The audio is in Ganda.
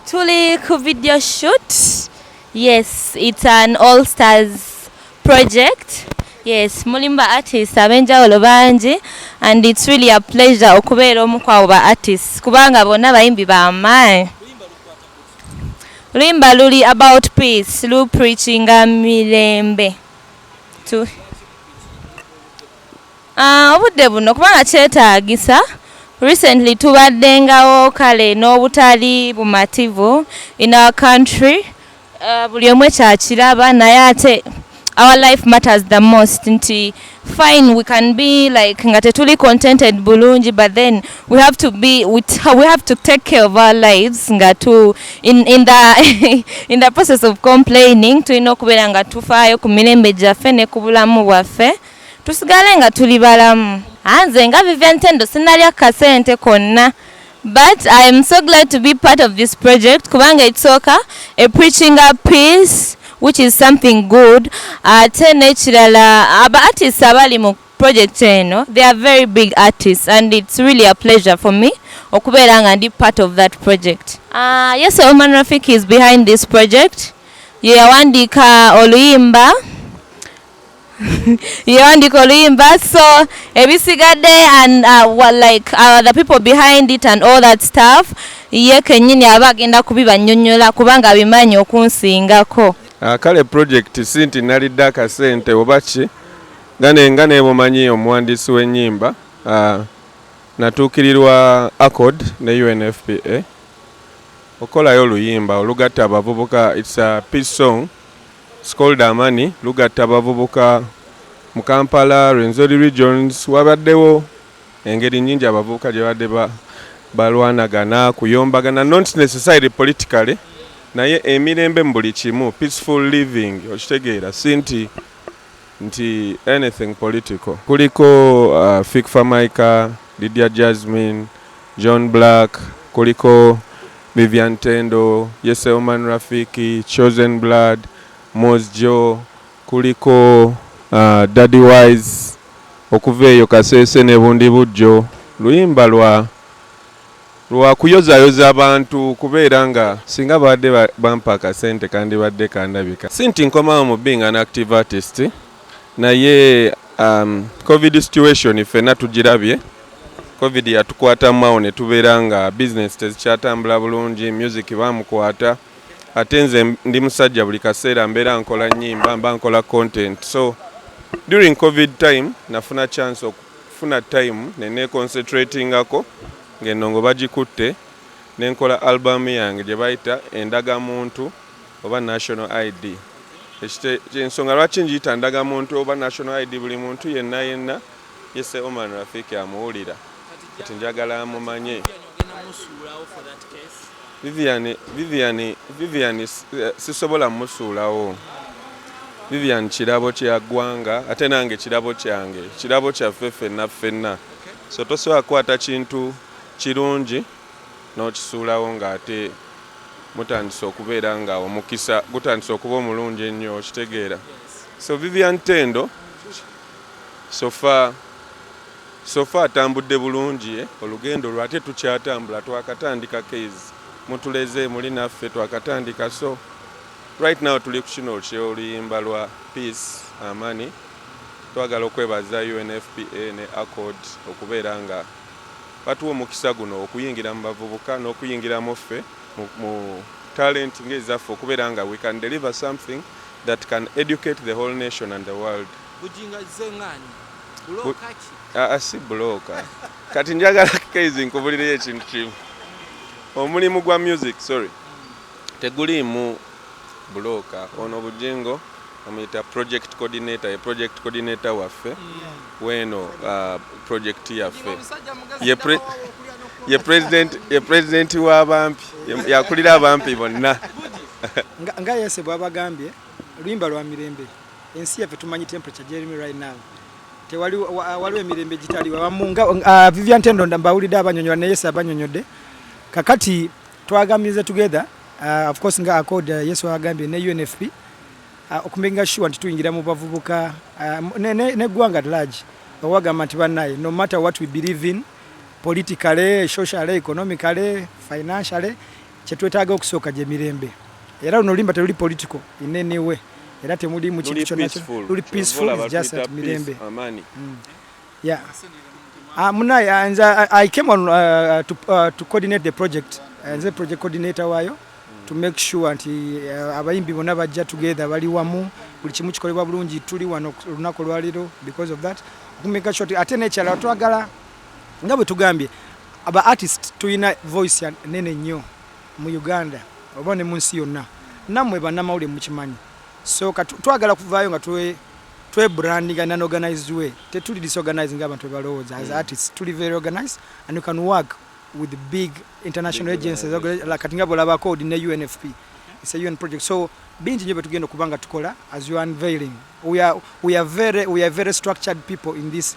Tuli ku video shoot. Yes, it's an all stars project. Yes, mulimba artists abenjawulo bangi and it's really a pleasure okubeera omu kwabo ba artists kubanga bonna bayimbi ba maanyi. Luimba luli about peace, lu preachinga mirembe. Tu. Obudde buno kubanga kyetaagisa, recently tubaddengawo kale n'obutali bumativu in our country, buli omu ekyo akiraba naye ate our life matters the most nti fine we can be like nga tetuli contented bulungi but then we have to be we have to take care of our lives nga tu in, in, the, in the process of complaining tulina okubeera nga tufaayo ku mirembe gyaffe ne ku bulamu bwaffe. Tusigale nga tuli balamu. Anze nga Vivian Tendo sinalya kasente konna but I am so glad to be part of this project kubanga ekisooka a preaching a peace which is something good ate nekirala aba artists abali mu project eno they are very big artists and it's really a pleasure for me okubeera nga ndi part of that project uh, yes Oman Rafik is behind this project yeyawandiika oluyimba yo ndiko oluyimba so ebisigadde and uh, well, like uh, the people behind it and all that stuff ye kenyini aba agenda kubibanyonyola kubanga abimanyi okunsingako uh, kale project si nti nalidde akasente oba ki nga nebumanyi omuwandiisi w'ennyimba uh, natuukirirwa accord ne unfpa okukolayo oluyimba olugatta abavubuka its a peace song Scold Amani lugatta abavubuka mu Kampala, Rwenzori regions wabaddewo engeri nyingi abavubuka gye babadde balwanagana kuyombagana not necessarily politically naye emirembe mu buli kimu peaceful living okitegeera si nti nti anything political kuliko Fik Famaica, Lydia Jazmine, John Blaq, kuliko Vivian Tendo, Yese Oman Rafiki, Chosen Blood, Moz Jo, kuliko uh, Daddy Wise okuva eyo Kasese ne Bundibugyo luyimba lwa Lwa kuyozayoza bantu kubeera nga singa babadde bampa akasente kandibadde kandabika. Si nti nkomawo mu being an active artist naye um, covid situation ffenna tugirabye. Covid yatukwatamu awo ne tubeera nga bizinesi tezikyatambula bulungi, music bamukwata. Ate nze ndi musajja buli kaseera mbeera nkola nnyimba, mba nkola content. So during covid time nafuna chance Funa time ne neeconcentratingako ng'ennongo bagikutte ne nkola album yange gye bayita Endagamuntu oba National ID. Ekite, ensonga lwaki ngiyita Ndagamuntu oba National ID buli muntu yenna yenna ye Sir Oman Rafiki amuwulira. Kati njagala amumanye. Vivian, Vivian, Vivian eh, sisobola musuulawo. Vivian kirabo kya ggwanga ate nange kirabo kyange, kirabo kyaffe ffenna ffenna. So tosobola kukwata kintu kirungi n'okisuulawo ng'ate mutandise okubeera nga omukisa gutandise okuba omulungi ennyo okitegeera. So Vivian Tendo sofa Sofa atambudde bulungi eh? Olugendo lwo ate tukyatambula twakatandika keyz mutuleze muli naffe twakatandika so right now tuli kukino kyoluyimba lwa peace amani twagala okwebaza UNFPA ne accord okubeera nga batuwa omukisa guno okuyingira mu bavubuka n'okuyingiramu ffe mu talent ng'ezaffe okubeera nga we can deliver something that can educate the whole nation and the world Bujingo azze ng'ani? Bulooka ki? Aa ah, ah, si bulooka. Kati njagala Kezi nkubulireyo ekintu kimu. Omulimu gwa music, sorry. Teguliimu bulooka. Ono Bujingo amuyita project coordinator, ye project coordinator waffe. Weno ah, project yaffe. Ye pre ye president ye president wa bampi yakulira abampi bonna nga yese bwabagambye luyimba lwa mirembe ensi yaffe tumanyi temperature jeremy right now tewali waliwo emirembe gitaliwo abamu nga uh, vivian tendo mbawulidde abanyonyola naye yesu abanyonyodde kakati twagambiriza together uh, of course nga accord uh, yesu agambye ne unfp uh, okumenga sure nti tuyingira mu bavubuka uh, neggwanga ne, ne large owagamba nti banaye no matter what we believe in politically socially economically financially Kyetwetaaga okusooka gye mirembe era luno limba teluli political in any way era temuli mu kintu kyonna luli peaceful is just at mirembe amani mm. yeah ah, muna ah, nze ah, i came on uh, to, uh, to coordinate the project eh, nze project coordinator wayo to make sure nti uh, abayimbi bona bajja together bali wamu buli kimu kikolebwa bulungi tuli wano olunaku lwaliro because of that okumeka sure ate nekyala twagala nga bwe tugambye aba artist tulina voice nene nnyo mu Uganda oba ne mu nsi yonna, nammwe bannamawulire mukimanyi, so twagala kuvaayo nga twe twe branding an organized way tetuli disorganizing abantu bebalowooza as mm. artists tuli very organized and you can work with the big international big agencies like kati nga bolaba code ne UNFP it's a UN project so bingi nyo betugenda kubanga tukola as you unveiling we are we are very we are very structured people in this